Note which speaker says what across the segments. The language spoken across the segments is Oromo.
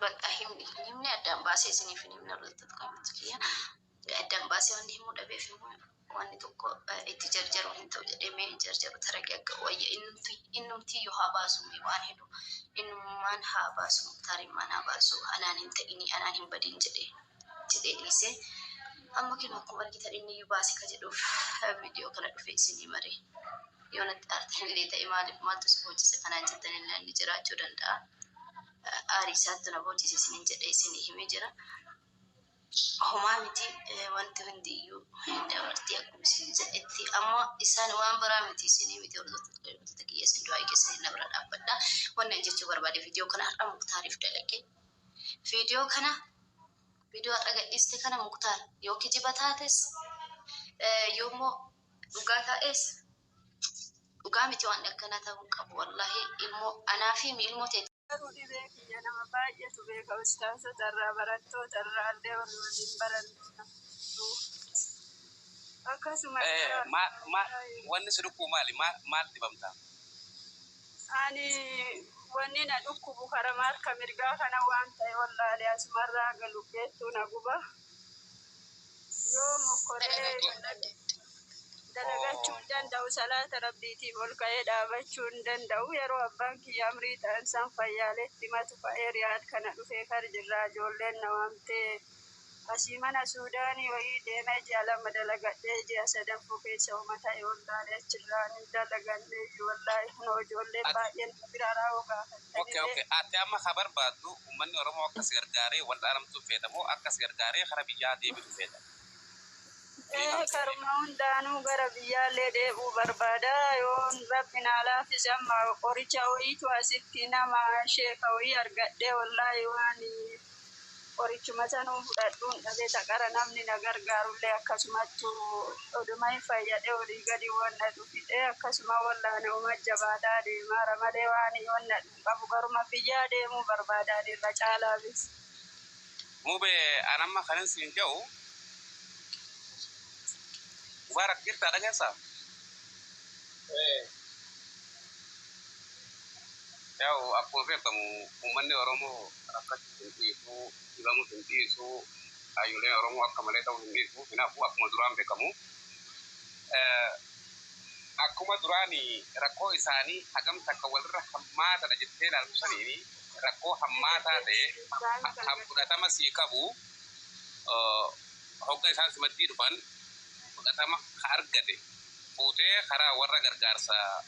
Speaker 1: Bakka himni himni addaan baasee isiniif hin himne irratti kan addan baasee wanni himuu dhabeef immoo wanni tokko itti jarjaru hin ta'u jedhee mee hin jarjaru taragee akka wayya innumti yoo haa baasu waan hedu innummaan haa baasu tarimmaan haa baasu anaan hin ta'ini anaan hin badin jedhee jedhee dhiise amma kinu akkuma argitan inni iyyuu baase ka jedhuuf viidiyoo kana dhufee isinii maree yoo natti aartan illee ta'e maaliif maaltu si boocisa kanaan jettan illee inni jiraachuu danda'a aarii isaatti na boocise isinin jedhee isinii himee jira. Homaa miti wanti hundi iyyuu hin dabarti akkuma isin jedhetti amma isaan waan biraa miti isinii miti hordoftoota kiyya isin du'aa keessanii na bira dhaabbadha wanni ani jechuu barbaade viidiyoo kana har'a muktaariif dalage viidiyoo kana viidiyoo har'a gadhiiste kana muktaar yoo kijiba taates yoo immoo dhugaa taa'es dhugaa miti waan akkanaa ta'uu qabu wallaahi ilmoo anaa fi ilmoo ta'e Garuu dhibee kiyya nama
Speaker 2: baay'eetu beeka ustaazota irraa barattoota irraa illee warri waliin barannuu na fudhu. Akkasuma Eh, irraa ma, ma, baay'ee
Speaker 3: wanni si dhukkubu maali? Ma, maal dhibamta?
Speaker 2: ani wanni na dhukkubu karama harka mirgaa kana waan ta'e wallaalee asumarraa galu beettuu na guba. yoo mokkoree dalagachuu hin danda'u salaata rabbiitiif ol ka'ee dhaabachuu hin danda'u yeroo abbaan kiyya amrii ta'an san fayyaaleetti matu ka'ee riyaad kana dhufee kar jirraa ijoolleen na waamtee asii mana suudaanii wayii deemee ji'a lama dalagadhee ji'a sadaffoo keessa uma ta'e wallaalee achirraa hin dalaganne iyyuu wallaahi kunoo ijoolleen baay'een na bira raawoo gaafate. Ok ok atti amma ka
Speaker 3: barbaaddu ummanni oromoo akka si gargaaree wal'aanamtu feeta moo akka si gargaaree kara biyyaa deebitu feeta? Ee karuma
Speaker 2: hundaanuu gara biyyaallee deebi'uu barbaada yoon rabbi naa laafise amma qoricha woyiitu asitti nama sheeka woyii argadhee wollaahi waan Qorichuma sanuu fudhadhuun dhabe taqara namni na gargaarullee akkasumattu oduma hin fayyadhe olii gadi wan na dhukite akkasuma wallaane uma jabaataa deemaara malee waan yoon na dhun qabu garuma biyyaa deemuu barbaadaan irra caalaafis. Mube
Speaker 3: an amma kanin siin ja'u Mubarak jirtaa dhageessa? Yaa'u akkuma beekamu ummanni Oromoo. Rakkachuu hin dhiisu, dhibamus hin dhiisu, haayyoleen Oromoo akka malee ta'uu hin dhiisu, hin hafu akkuma duraan bekamu. Akkuma duraani rakkoo isaani hagam takka walirra hammaatadha jettee ilaaltu saniin rakkoo hammaataa ta'e kan fudhatama sii qabu hogga isaan simattii dhufan fudhatama ka argate fuutee karaa warra gargaarsa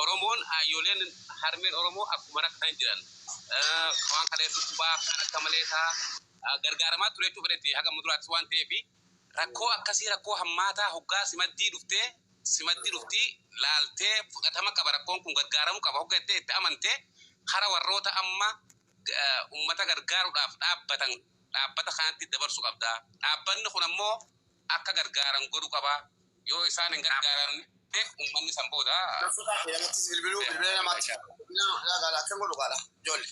Speaker 3: Oromoon haayyoleen harmeen Oromoo akkuma rakkatan jiran waan kalee dhukkubaa kan akka malee ta'a gargaaramaa ture jechuuf fedhetti haga muduraattis waan ta'eef rakkoo akkasii rakkoo hammaataa hoggaa simaddii dhuftee simaddi dhuftii laaltee fudhatama qaba rakkoon kun gargaaramu qaba hogga jettee itti amante kara warroota amma ummata gargaaruudhaaf dhaabbatan dhaabbata kanatti dabarsu qabda dhaabbanni kun ammoo akka gargaaran godhu qaba Yoo isaan hin gargaaramne ummanni san booda. Lammaffaa kee namattis
Speaker 4: bilbiluu bilbila namaatti bilbilaa gaala akkan godhu gaala joolle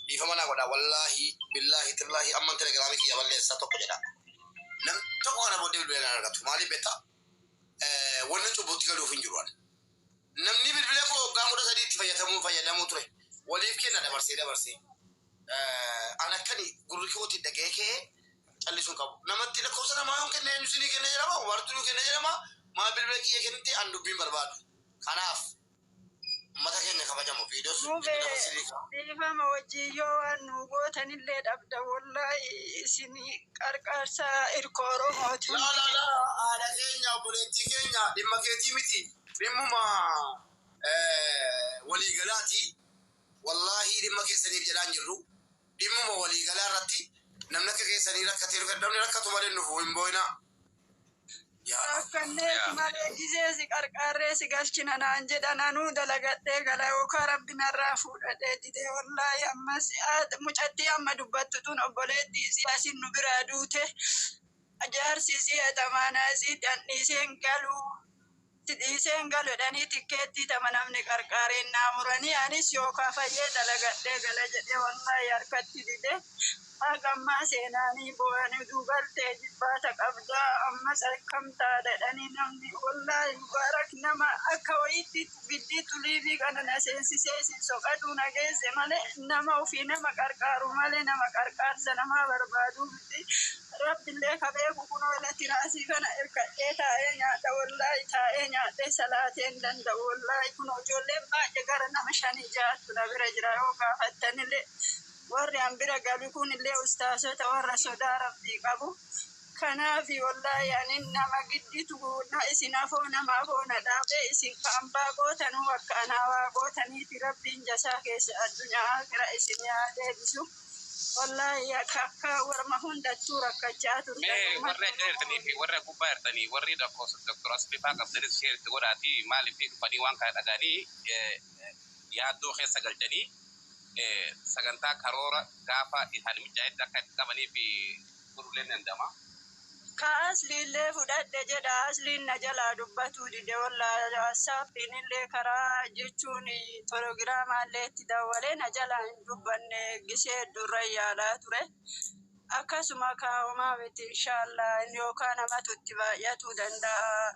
Speaker 4: dhiifama naa godhaa wallaahi billaahi tallaahi amman telegiraamii kiyya balleessa tokko jedhaa namni tokko kana booddee bilbila hin argatu maaliif beektaa wanni cubbutti galuuf hin jiru ani. Namnii bilbila koo waggaa 13 itti fayyatamu fayyadamu ture waliif kenna dabarsee dabarsee an akkani gurri kootiin dhaga'ee ka'ee callisu hin qabu namatti lakkoofsa namaa yoon kenna eenyu sinii kenna jedhama wartu nu kenna jedhama maal bilbila kiyya kennite an dubbiin barbaadu kanaaf ummata keenya kabajamu viidiyoos Mube bilbila koo sirrii ka'a
Speaker 2: dhiifama wajjin yoo waan nuu gootanillee dhabda wollaahi isin Qarqaarsa irkoo Oromootiin. Laa laa laa haadha
Speaker 4: keenya obboleettii keenya dhimma keetii miti dhimmuma walii galaati wallaahii dhimma keessaniif jedhaa hin jirru dhimmuma walii galaa irratti namni akka keessanii rakkatee namni rakkatu malee hin dhufu hin boo'inaa. Rakkanneeti
Speaker 2: malee gizee si qarqaarree si galchina naan jedhan anuu dalagadhee gala yookaan rabbi narraa fuudhadhee didee wallaahi ammas mucattii amma dubbattu tun obboleetti isii asin nu biraa duute jaarsi isii atamaanaa isii dandhiiseen galuu Itti dhiisee hin galu jedhanii tikkeettii tama namni qarqaareen naa muranii anis yoo kafalee dalagadhee gala jedhee wallaahi harkatti dide haga ammaa seenaanii booyan uduu galtee ijibbaata qabda ammas akkam taata jedhanii namni wallaahi mubaarak nama akka wayiitti giddii xuliibii kana na seensisee isin soqaduu na geesse malee nama ufii nama qarqaaru malee nama qarqaarsa namaa barbaadu jirti. Rabbillee ka beeku kunoo ila tiraasii kana irkadhee taa'ee nyaadha wollaahi taa'ee nyaadhee salaatee hin danda'u wollaahi kunoo ijoolleen baay'ee gara nama shanii ja'attu na bira jira yoo gaafattanillee worri an bira galu kunillee ustaazota worra sodaa rabbii qabu kanaafi wollaahi ani nama gidditu na isin afoo nama afoo na dhaabee isin ka ambaa gootanuu akka anaa waa gootaniifi rabbiin jasaa keessan addunyaa aakhira isinii haa deebisu. Wallahi akka akka warma hundattuu rakkachaa turtan. Mee
Speaker 3: Ummata warri akka Oromoo. jirtanii fi warri gubbaa jirtanii warri lakkoofsa Dr. Asliifaa qabdanis share itti godhaatii maaliif dhufanii waan kana dhaga'anii yaaddoo keessa galchanii sagantaa karoora gaafa isaanii mijaa'etti akka itti qabanii fi godhulleen danda'ama. Ka
Speaker 2: Asliillee fudhadhe jedha Asliin na jalaa dubbatuu dide wollahi Whatsappiinillee karaa jechuun Tologiraamaallee itti dawwalee na jalaa hin dubbanne gisee hedduurran yaalaa ture akkasuma kaa homaa miti inshaallaa inni yookaa namatu itti baay'atuu danda'aa.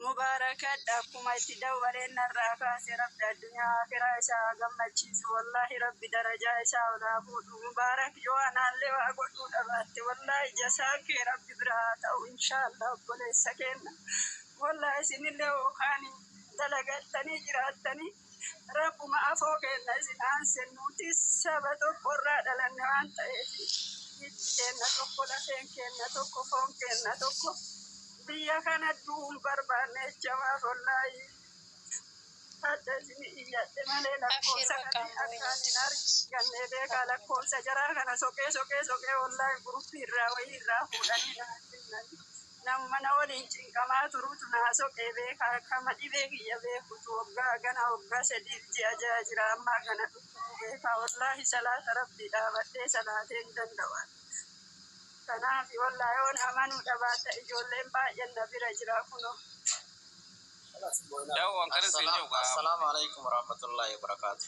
Speaker 2: Mubarakadha akkuma itti dawwaleen narraa kaase rabbi addunyaa akiraa isaa haa gammachiisu wallahi rabbi darajaa isaa ol haa fuudhu Mubarak yoo anaallee waa godhuu dhabaatte wallahi jasaan kee rabbi biraa haa ta'u inshallah obboleessa keenna wallahi isinillee hoo kaaniin dalagattanii jiraattanii Rabbuma afoo keenna isin aanse, nuti saba tokko irraa dhalanne waan ta'eef, hiddi keenna tokko, lafeen keenna tokko, foon keenna tokko. Biyya kana du'uu hin barbaanne jecha maaf ollaayii hadha isinii iyyadhe malee lakkoofsa kanii akkaan hin argannee beekaa lakkoofsa jaraa kana soqee soqee soqee ollaayii gurupii irraa wayii irraa fuudhanii naa kennanii. Namuma na waliin cinqamaa turutu naa soqee beekaa akkama dhibee kiyya beekutu waggaa gana waggaa sadiif ji'a ja'a jira amma hagana dhukkubuu beekaa wallaahi salaata rabbii dhaabadhee salaatee hin danda'u ani kanaafi wallaahi yoon amanuu dhabaadha ijoolleen baay'een na bira jira kunoo Assalamu
Speaker 5: alaikum warahmatullahi
Speaker 4: wabarakatuh.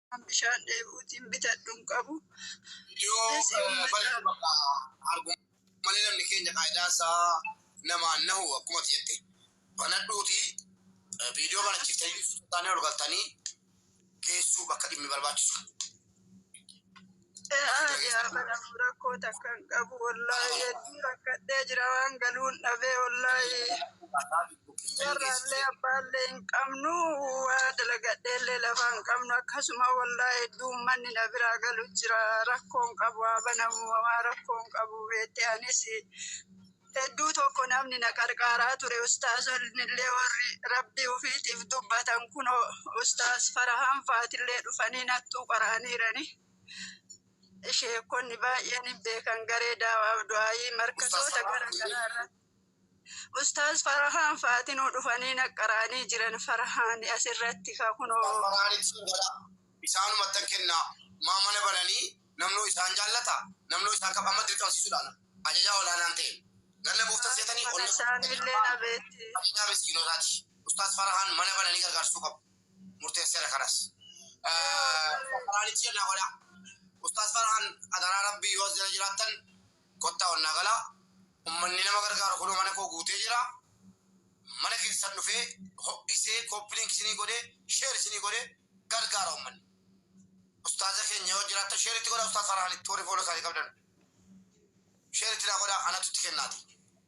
Speaker 5: Kan bishaan
Speaker 2: dheebuutiin bitadhu hin qabu. Yoo Dhisi
Speaker 4: eh, ummata. balfi bakka argu malee namni keenya qaayidaan isaa namaan nahu akkuma ati jette banadhuuti eh, viidiyoo banachiftanii sultaanii ol galtanii geessuu bakka dhimmi barbaachisu.
Speaker 2: Rakkoo takka hin qabu wallaahi hedduu rakkadhee jira waan galuun dhabee wallaahi biyyarraallee abbaallee hin qabnu waa dalagadheellee lafa hin qabnu akkasuma wallaahi hedduu ummanni na biraa galu jira rakkoo hin qabu haa banamu homaa rakkoo hin qabu beettee anis Hedduu tokko namni na qarqaaraa ture ustaazonnillee warri rabbii ufiitiif dubbatan kunoo ustaaz farahaan faatillee dhufanii nattuu qaraaniirani sheekonni baay'een hin beekan garee daawaaf du'aayii markasoota gara garaa irratti ustaaz farahaan faatinuu dhufanii na qaraanii jiran farahaan asirratti ka kunoo Farfaraanitti godha. Isaanumatti
Speaker 4: kenna. Maa mana bananii Namnuu isaan jaallataa? Namnuu isaan kab amma dirqamsiisuudhaan ajajaa ol aanaan ta'e. Ganna buuftan seetanii Akka onnee kana isaanii illee na
Speaker 2: beekti. Ajajaa miskiinotaati.
Speaker 4: Ustaaz Farahaan mana bananii gargaarsuu qabu. Murteesseera kanas. Ustaaz Farahaanitti jennaa godhaa. Ustaaz Farahaan adaraa Rabbii yoo as jala jiraattan kottaa onnaa galaa. Ummanni nama gargaaru kunoo mana koo guutee jira. Mana keessan dhufee ho'isee kooppilinki isinii godhee sheer isinii godhee gargaara ummanni. Ustaaza keenya yoo jiraattan share itti godhaa ustaaz Farhaanitti warri follow isaanii qabdan share itti naa godhaa anatu itti kennaati.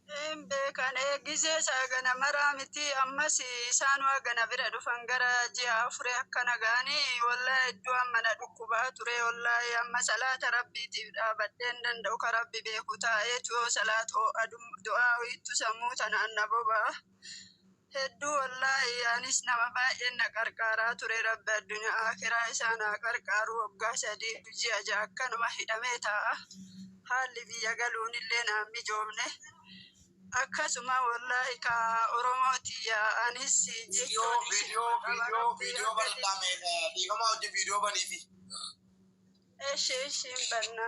Speaker 4: Hin beekan
Speaker 2: eegisee isaa gana maraa miti ammas isaan waa gana bira dhufan gara ji'a afure akkana ga'ani wallaahi hedduu amma na dhukkubaa ture wallaahi amma salaata rabbiitiif dhaabadheen danda'u ka rabbi beeku taa'eetu yoo salaat oo'a du'aa wiittu sammuu tanaan na bobaa. Hedduu wallaahi anis nama baay'een na qarqaaraa ture rabbi addunyaa akiraa isaa naa qarqaaru waggaa sadii fi ji'a ja'a akkanuma hidhamee taa'a. Haalli biyya galuun illee naan mijoomne. Akkasuma wallaahi ka Oromoo tiyya anis Video, jechuun isin video, qaba video, rabbi
Speaker 4: video hanga bal'aa dhibbi. mee eh, dhiifama wajjin video baniifi. Eshi eshi
Speaker 2: hin
Speaker 4: banna.